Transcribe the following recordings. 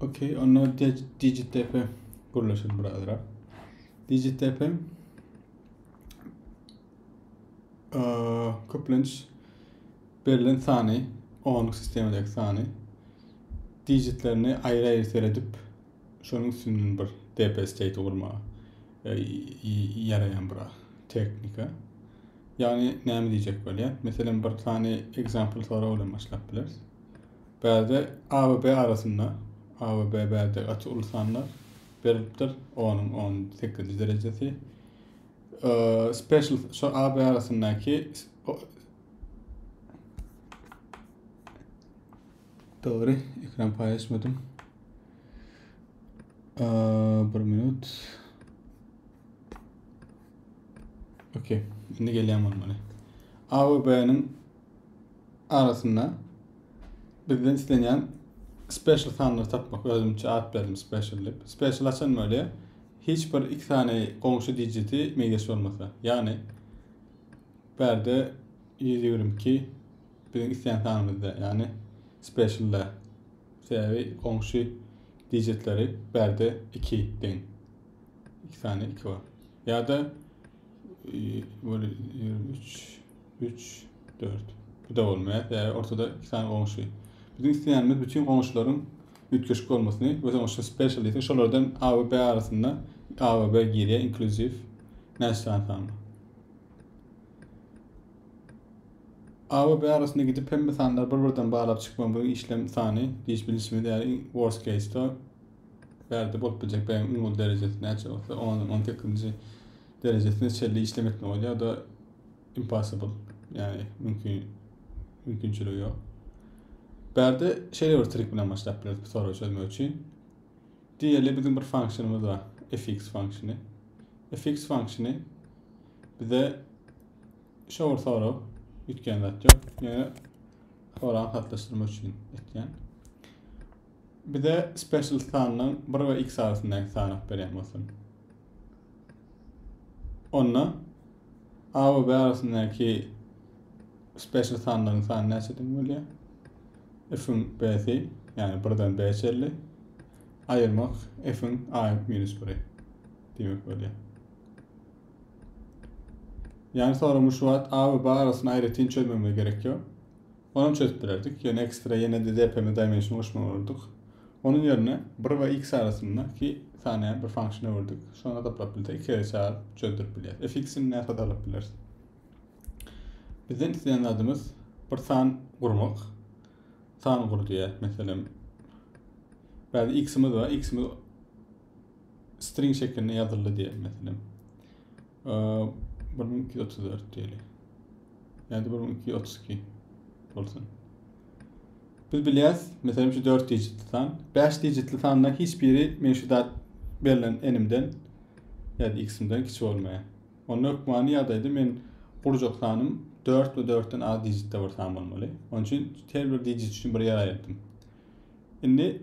Okey, onda DigiTF gurlaşyr birazrak. DigiTF köplenç berlen sany, onuň sistemadaki sany digitlerini aýry-aýry seredip, şonuň üstünden bir DP state gurma e, ýaraýan bir teknika. Ýagny näme diýjek bolýar? Meselem bir sany example sorag bilen başlap bileris. Bärde ABB arasynda ABB bärde gaty uly sanlar berilipdir onuň on sekizinji derejesi special şu AB arasyndaky Doğru, ekran paylaşmadım. Ee, bir minut. Okey, şimdi gelýän bolmaly. A we B-niň arasynda bizden islenýän special sanlary tapmak özümçe at berdim special diýip special açan bolýa hiç bir iki sany goňşy digiti meýleş bolmasa ýagny bärde 122 biziň isleýän sanymyzda ýagny specialda sebäbi goňşy digitleri bärde 2 deň iki sany 2 bar ýa-da 23 Üç, dört. Bu-da bolmaýar. Sebäbi ortada iki sany goňşy. Biziň isleýänimiz bütin goňşularyň üýtgeşik bolmasyny we soň şu special diýsek, şolardan A we B arasynda A we B girýär, inkluziw. Näçe sany sanlar? A we B arasynda gidip hemme sanlary bir-birden baglap çykma bu işlem sany diýiş bilişimiz ýaly worst case-de bärde bolup biljek B-iň iň ol derejesine näçe bolsa, 10-18-nji derejesine çenli işlem etme bolýar. Da impossible yani mümkün mümkünçiligi yok. Bärde şeýle bir trik bilen başlap bileris bu soragy çözmek üçin. Diýeli biziň bir funksionymyz bar. fx funksiýony. fx funksiýony bize şu bir sorag üýtgän zat ýok. Ýöne soragy hatlaşdyrmak üçin etýän. Bize special sandan 1 we x arasyndaky sany berýän bolsun. Onda A we B arasyndaky special sanlaryň sany näçe deň bolýar? F-iň B-si, ýagny 1-den B çenli aýyrmak F-iň A minus 1-i diýmek bolýar. Ýagny soragyň şu wagt A we B arasyny aýratyn çözmegime gerek ýok. Onam çözüp bilerdik, ýöne ekstra ýene DDPM Dimension goşmaly bolardyk. Onuň ýerine bir we x arasynda ki sany bir function öwürdik. Şony hasaplap bilsek iki gezek çagyryp çözdürip bilýäris. Fx-ni nädip hasaplap bileris? Bizden isleýän zadymyz bir san gurmak. San gur diýýär. Meselem, bäde x-imiz bar, x-imiz string şekilinde ýazyldy diýelim meselem. bir müň iki ýüz otuz dört diýeli. Ýa-da bir müň iki ýüz otuz iki bolsun. Biz bilýäs, meselem şu 4 digitli san, 5 digitli sandan hiç biri men şu zat berlen enimden ya da x'imden kiçi bolmaýar. Onda hökmany ýagdaýda men gurjak sanym 4 we 4-den az digitde bir san bolmaly. Onun üçin her bir digit üçin bir ýer aýyrdım. Indi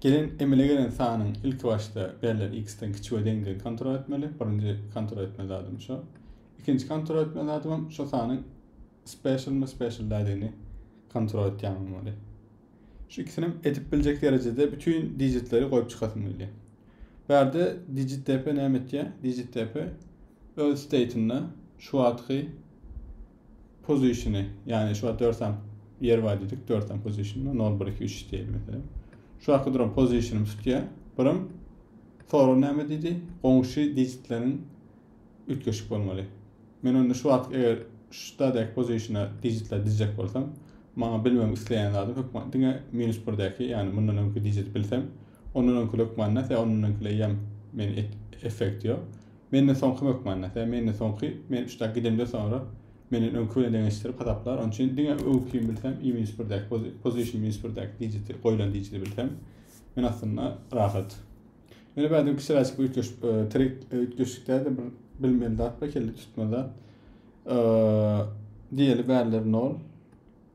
Gelen emele gelen sanyň ilki başda berlen x-den kiçi we deňdigini kontrol etmeli. Birinji kontrol etme zadym şu. Ikinji kontrol etme zadym hem şu sanyň special mi special däligini kontrol etýän bolmaly. Şu ikisini hem edip biljek derejede bütün digitleri goýup çykasym gelýär. Bu ýerde digit dp näme etýär? Digit dp öz state'inde şu wagtky pozişini, ýagny şu wagt dörsen ýer bar diýdik, dörsen pozişini, 0, 1, 2, 3 diýelim mesela. Şu wagt duran pozişini tutýa, birim soru näme diýdi? Goňşy dijitleriň üýtgeşik bolmaly. Men onda şu wagt eger şu stadek pozişini dijitler dizjek bolsam, maňa bilmem isleýän zadym hökman diňe minus 1 däki, ýagny mundan öňki dijit bilsem, ondan öňki hökman näse, ondan öňki leýem men effekt ýok. Menden soňky hökmanda, sebäbi menden soňky, men üçdäki gidemden soňra menden öňki bilen deňeşdirip hasaplar, onuň üçin diňe öňkini bilsem i minus birdäki pozi, position minus birdäki dijiti, goýlan dijiti bilsem, men aslynda rahat. Ýöne bädin kişiräçik bir üýtgeş, e, trik, e, üýtgeşik däl-de bir bilmeli zat bar, kelle tutma zat. E, diýeli bärler nol.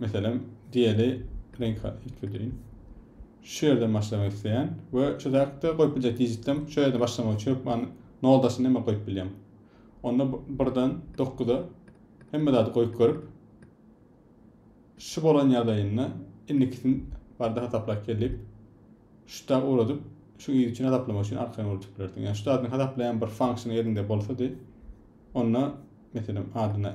Meselem, diýeli, reňk aýdyp bildirin. Şu ýerden başlamak isleýän we şu zäkde goýup biljek dijitlem şu ýerde başlamak üçin hökman noldasyny näme goýup bilýän. Onda birden dokuza hemme zady goýup görüp şu bolan ýagdaýynda indikisini barada hasaplap gel diýip şuda ugradyp şu yz üçin hasaplamak üçin arkaýyn ugradyp bilersiň. Ýa şu zadyny hasaplaýan bir function eliňde bolsady onda meselem adyna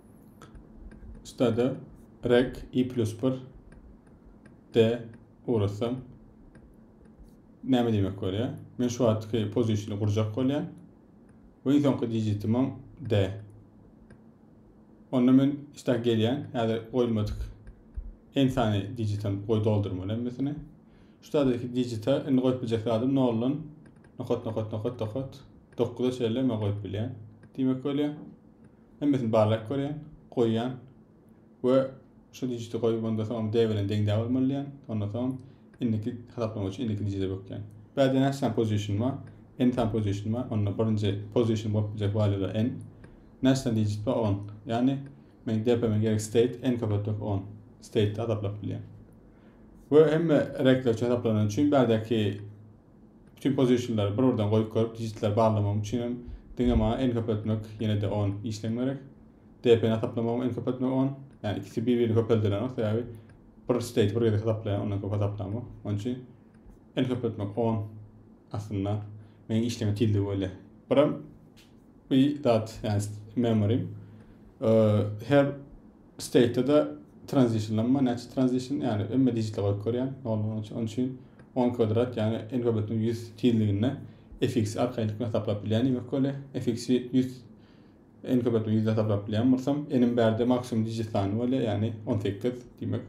Stada rek i plus 1 d ugratsam näme diýmek bolýar? Men şu wagtky pozisiýany gurjak bolýan. We iň soňky digitimem d. Onda men işte gelýän, häzir goýulmadyk en sany digitem goý doldurmaly hemmesini. Şu taýdaki digita indi goýup biljek zadym 0 dan nokat nokat nokat nokat 9-a çenli men goýup bilýän diýmek bolýar. Hemmesini barlap görýän, goýýan we şu dijiti goýup onda soň D bilen deň-dä bolmaly diýýän. Onda soň indiki hasaplama üçin indiki dijite bökýän. Bäde näçe position bar? N sany position bar. Onda birinji position bolup biljek valýular N. Näçe sany dijit bar? 10. Ýagny men DP-me gerek state N köpeltmek 10. State-de hasaplap bilýän. We hemme rekler üçin hasaplanan üçin bädäki Bütün pozitionlary bir birden goýup görüp digitleri barlamagym üçin hem diňe maňa en köpeltmek ýenede on işleň gerek. DP ni hasaplamagym en köpeltmek on. Ýani ikisi bir birini köpeldilenok sebäbi bir state bir gezek hasaplaýan ondan köp hasaplamok. Onun üçin en köpeltmek on aslynda meň işleme tizligi bolýar. Biram bir zat ýani memory her State-de transitionlanma, näçe transition, ýagny öňe digitleri goýup görýän, noldan üçe, onuň üçin on kwadrat, ýagny n köbeltme ýüz tizliginde fx-i arkaýynlykda hasaplap bilýän diýmek bolýa. Fx-i ýüz, n köbeltme ýüzde hasaplap bilýän bolsam, n-iň bärde maksimum digit sany bolýa, ýagny on sekiz, diýmek,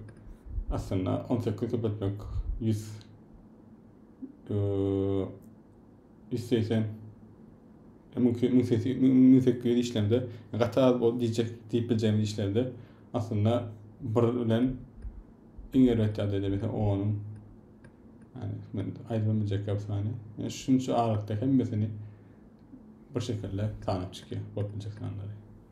aslynda on sekiz köpeltmek ýüz, Isleýsen müň müň müň sekiz ýüz işlende gaty az bol diýjek diýip biljegimiz işlerde aslynda bir bilen iň erbet ýagdaýda mesela onuň yani men aýdyp biljek ýok sany. Yani şunça aralykda hemmesini bir şekilde sanap çykýar bolup biljek sanlary.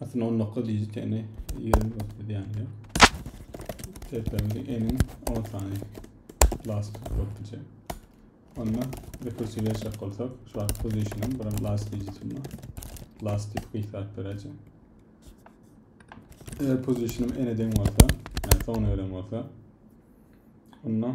Aslynda on dokuz digitini ýigrimi bolup gidýär. Tertemiz eniň on sany last bolup gidýär. Onda rekursiw ýaşap bolsak, şu wagt pozisiýanym bir last digitim bar. Last dip gyýsap bereceğim. Eger pozisiýanym ene deň bolsa, ýa soňuna gelen bolsa, onda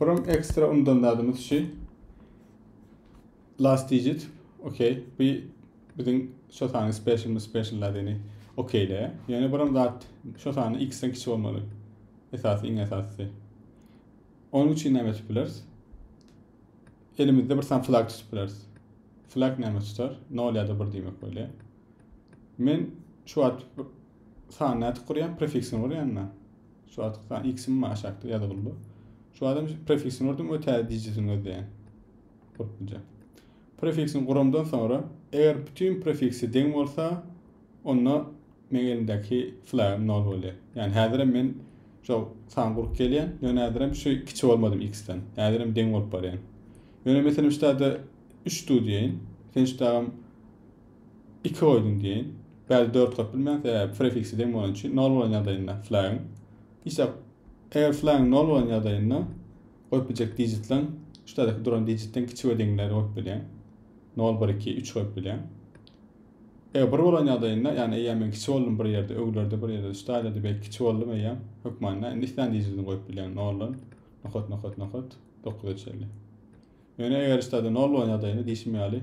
Buram ekstra undan zadymyz şu. Last digit. Okey. Bu biziň şu sany special mi special zadini. Okeyle. Yani buram zat şu sany x-den kiçi olmaly. Esasy, iň esasy. Onun üçin näme etip bileriz? Elimizde bir sany flag tutup bileriz. Flag näme tutar? 0 ya da 1 demek böyle. Men şu at sany nätip gurýan, prefiksini gurýan Şu wagt san X-im mi aşakda ýazgylda. Şu wagtam prefiksini gördüm we täze dijitini gözleýän. Gurpluja. Prefiksini guramdan soňra, eger bütün prefiksi deň bolsa, onda meň elimdäki flag 0 bolýar. Ýani häzirem men şu san gurup gelýän, ýöne häzirem şu kiçi bolmadym X-den. Häzirem deň bolup barýan. Ýöne meselem şu dagda 3 dudýaýyn. Sen şu dagam Iki oýdan deýin, bäri dört goýup bilmeýäň, sebäbi prefiksi deň bolany üçin, nol bolan ýagdaýynda flagyň, işe eger flagyň nol bolan ýagdaýynda goýup biljek digitleň şu taýdaky duran digitden kiçi we deňleri goýup bilýäň. Nol, bir, iki, üç goýup bilýäň. Eger bir bolan ýagdaýynda, ýagny eýýäm men kiçi boldum bir ýerde, öwlerde bir ýerde, şu taýlarda belki kiçi boldum eýýäm, hökmanda indi islän digitini goýup bilýäň, noldan nokat, nokat, nokat, dokuza çenli. Ýöne eger şu taýda nol bolan ýagdaýynda diýşim ýaly,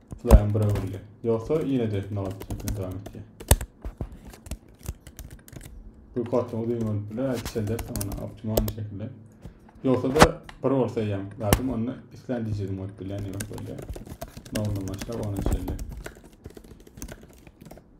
Laýam bir öwrüldi. Ýogsa ýene-de etme gaty çetine dowam etýär. Bu kotluň uzyn bolup biler, çeldersin ony optimalny şekilde. Ýogsa da bir bolsa ýam lazym, onda islän dijigiň bolup biler, ýok bolýar. Noldan başlap ona çenli.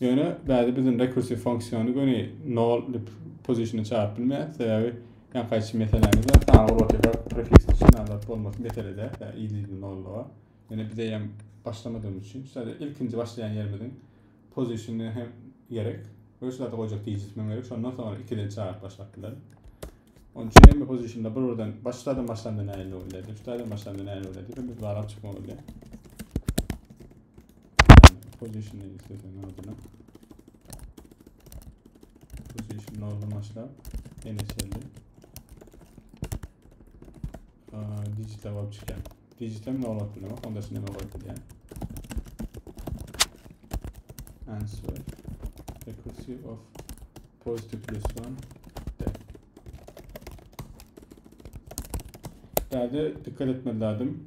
Ýöne bäde biziň rekursiw funksiýony göni nol dip pozisiona çagyryp bilmeýäs, sebäbi ýa gaýçy meseläni bilen sany urlapyka prefiksi üçin adat bolmasy mesele däl, ýa ýygy nollyga. Ýöne biz eýýäm başlamadygymyz üçin sadä ilkinji başlaýan ýerimiziň pozisiony hem gerek we şu zady goýjak digits hem gerek, şondan soňra ikiden çagyryp başlap bileris. Onuň üçin hemme pozisionda bir birden baş zadan başlanda nähili bolýar diýip, şu zadan başlanda nähili bolýar diýip hem biz barlap çykmaly bolýar. Position isteseň adına. Position noldan başlap ene çenli. Digital bolup çykýan. Digital nol atyp bilmek, onda şunda nol atyp bilýän. Answer. Accuracy of positive plus one. Däde dikkat etmeli lazım.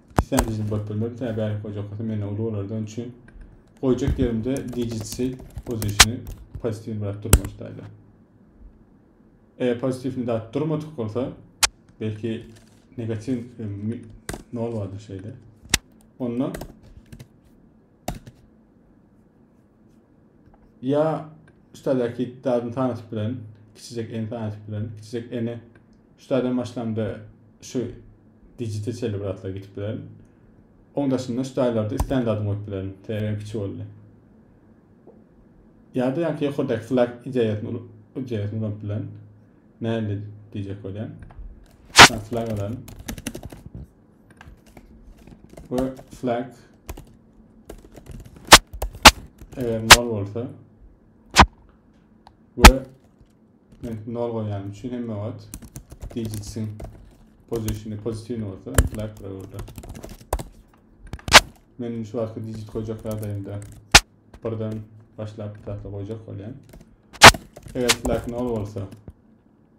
Sen bizi bökdürme bir tane bärik goýjak bolsa menden uly bolardy onun üçin goýjak ýerimde digit shape pozisiýony pozitiw bırak durma şutaýda. Eger pozitiwni dat durmadyk bolsa belki negatiw e, nol bardyr şeyde. Onda Ýa şutajaki dadyny tanyşyp bilen, kiçijek eni tanyşyp bilen, kiçijek eni şutadan başlamda şu digite çenli bir zatlar gitip bilen. Oň daşynda şutaýlarda islän zadyny goýup bilen, sebäbi kiçi boldy. Ýa-da ýaňky ýokardaky flag ideýasyny ideýasyny ulanyp bilen. Näle diýjek bolýan. Flag alan. Bu flag Eger nol bolsa ve men nol goýýanym üçin hemme wagt digitsin pozisiýony pozitiwny bolsa intellekt burada. Men şu wagtky digit goýjak ýagdaýymda birden başlap bir zatda goýjak bolýan. Eger intellekt nol bolsa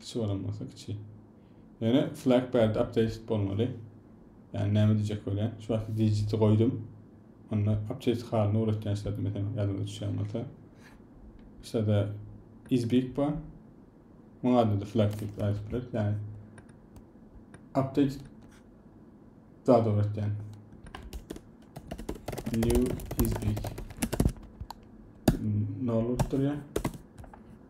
Kiçi bolan bolsa kiçi. Ýöne flag pad updated bolmaly. Yani näme diyecek bolýan? Şu wagtky digiti goýdum. Onda update halyny uratýan şada mesela ýadyňyza düşýän bolsa. Şada is big bar. Muňa da flag diýip ýazyp biler. Yani update zat uratýan. New is big. Ne olup durýar?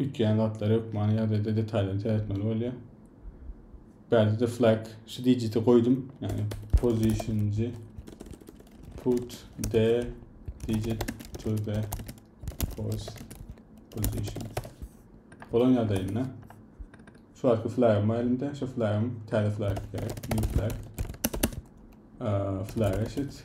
üýtgeýän zatlar hökmany ýagdaýda detalyny seretmeli bolýar. Bärdede flag şu digiti goýdum. Ýagny positionji put the digit to the post position. Bolan ýagdaýynda şu wagtky flagym bar elimde. Şu flagym täze flag gerek. New flag. Flag eşit.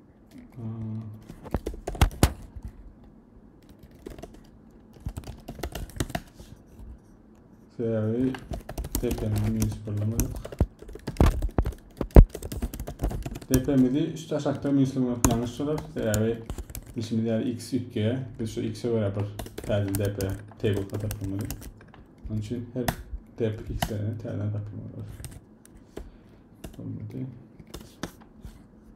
Sebäbi tepemizi hiç birlamadyk. Tepemizi şu taşakda minuslemek ýalňyş bolar. Sebäbi işimiz ýaly x ýükge, biz şu x-e görä bir täze depe table tapmaly. Onun için her dep x'lerine täze tapmaly. Olmadı.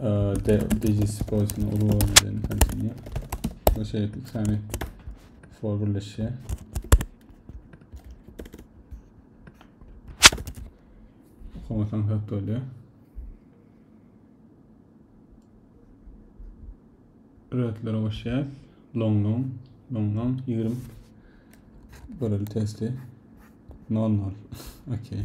Ee, de, dejisi koysun ulu boyun edeni kansini. Bu şey sami for birleşe. Komutan hep böyle. Rötlere hoşyaz. Long long. Long long. 20. Böyle testi. Non non. Okey.